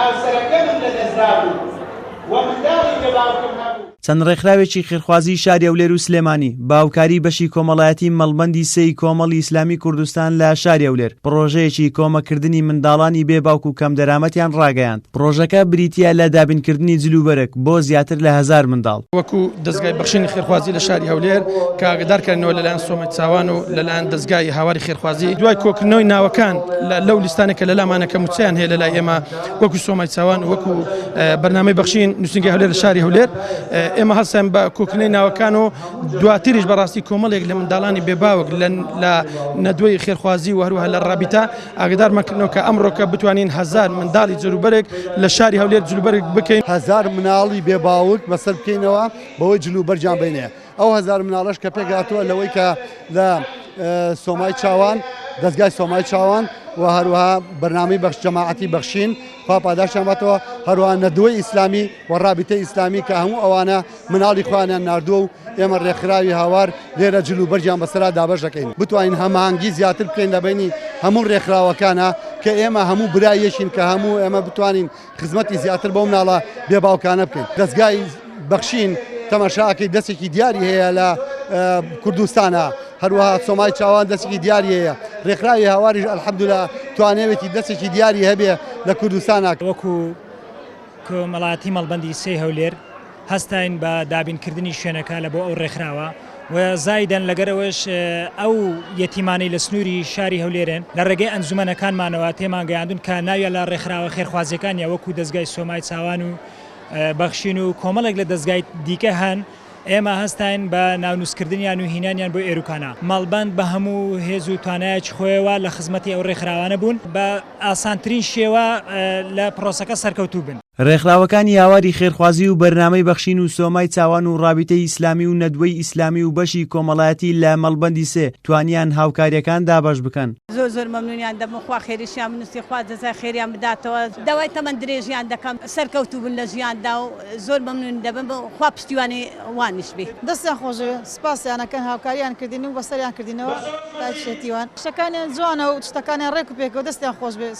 هاوسەرەکەمم لەدەستدابوو و منداڵی بێ باوکم هەبوو. چەند ڕێکخراوێکی خێرخوازی شاری هەولێر و سلێمانی بە هاوکاری بەشی کۆمەڵایەتی مەڵبەندی سێ ی کۆمەڵی ئیسلامی کوردستان لە شاری هەولێر پڕۆژەیەکی کۆمەککردنی منداڵانی بێ باوک و کەمدەرامەتیان ڕاگەیاند پڕۆژەکە بریتییە لە دابینکردنی جل و بەرگ بۆ زیاتر لە هەزار منداڵ. وەکو دەزگای بەخشینی خێرخوازی لە شاری هەولێر کە ئاگەدارکرانەوە لەلایەن سۆما. چاوان و لەلایەن دەزگای هاواری خێرخوازی دوای کۆکردنەوەی ناوەکان لەو لیستانە کە لەلامانە کە موچەیان هەیە لەلای ئێمە وەکو سۆمای چاوان وەکو بەرنامەی بەخشین نووسنگی هەولێر لە شاری هەولێر ئێمە هەستێن بە کۆکردنەوەی ناوەکان و دواتریش بەڕاستی کۆمەڵێک لە منداڵانی بێباوک لە نەدوەی خێرخوازی و هەروها لە ڕابیتا ئاگدارمەکردنەوە کە ئەمڕۆکە بتوانین هزار منداڵی جلوبەرێک لە شاری هەولێر جلوبەرگ بکەین هزار مناڵی بێباوک بەسەر بکەینەوە بەوەی جلوبەرگیان بینێ. ئەو هەزار مناڵەش کە پێکهاتووە لەوەی کە لە سۆمای چاوان دەستگای سۆمای چاوان و هەروەها بەرنامی بەخش جەماعەتی بەخشین پاپاداشانباتەوە هەروە نەدووی ئیسلامی و ڕابیتە ئیسلامی کە هەموو ئەوانە مناڵی خوانیان نردووە و ئێمە ڕێکخراوی هاوار لێرە جلو بەرجیان بەسرا دابش دەکەین بتوانین هەمانگی زیاتر بکەین لە بینی هەموو ڕێکخراوەکانە کە ئێمە هەموو برایەکین کە هەموو ئێمە بتوانین خزمەتی زیاتر بەو مناڵە بێ باوکانە بکەین دەزگای بەخشین تەماشاکەی دەستێکی دیاری هەیە لە کوردستانە هەروەها سۆمای چاوان دەستێکی دیاریەیە ڕێکخراوی هاواریش ئەلحەمدولا توانێوێتی دەستێکی دیاری هەبێ لە کوردستانە وەکو کۆمەڵاتی مەڵبندی سێ هەولێر هەستاین بە دابینکردنی شوێنەکە لە بۆ ئەو ڕێکخراوە و زایدەن لەگەر ئەوەش ئەو یەتیمانەی لە سنووری شاری هەولێرێن لە ڕێگەی ئەنجومەنەکانمانەوە تێمانگەیاندون کە ناویان لە ڕێکخراوە خێرخوازیەکان یا وەکو دەزگای سۆمای چاوان و بەخشین و کۆمەڵێک لە دەزگای دیکە هەن ئێمە هەستاین بە ناونووسکردنیان و هینانیان بۆ ئێروکانا مەڵبەند بە هەموو هێز و توانایەکی خۆیەوە لە خزمەتی ئەو ڕێکخراوانە بوون بە ئاسانترین شێوە لە پرۆسەکە سەرکەوتوو بن. ڕێکخراوەکانی هاواری خێرخوازی و بەرنامەی بەخشین و سۆمای چاوان و ڕابیتەی ئیسلامی و نەدوەی ئیسلامی و بەشی کۆمەڵایەتی لە مەڵبەندی سێ توانیان هاوکاریەکان دابەش بکەن. زۆر زۆر مەمنونیان دەبم خوا خێریشیان بنوسی خوا جەزای خێریان بداتەوە داوای تەمەن درێژیان دەکەم سەرکەوتو بن لە ژیاندا و زۆر مەمنونی دەبم و خوا پشتیوانی وانیش بی. دەستیان خۆش بێ سپاسیان ئەکەن هاوکاریان کردین و بەسەریان کردینەوە تاکیشێتی وان. قسەکانیان جوانە و شتەکانیان ڕێک و پێکەوە دەستیان خۆش بێ.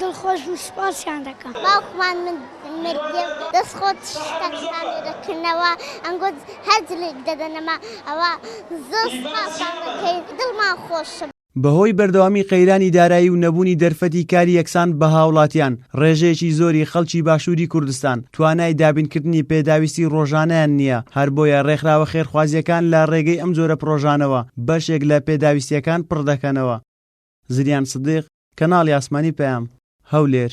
دڵخۆش بوو سوپاسیان دەکەم. باوکمان مردیە و دەست خۆت شتە کسانێ دەکردنەوە ئەنگۆ هەر جلێک دەدەنەمە ئەوە زۆر سوپاسان دەکەین دڵمان خۆش. بەهۆی بەردەوامی قەیرانی دارایی و نەبوونی دەرفەتی کاری یەکسان بە هاوڵاتیان، ڕێژەیەکی زۆری خەڵکی باشووری کوردستان توانای دابینکردنی پێداویستی ڕۆژانەیان نییە، هەر بۆیە ڕێکخراوە خێرخوازییەکان لە ڕێگەی ئەم جۆرە پڕۆژانەوە بەشێک لە پێداویستییەکان پڕ دەکەنەوە. زریان سدیق، کەناڵی ئاسمانی پەیام، هەولێر.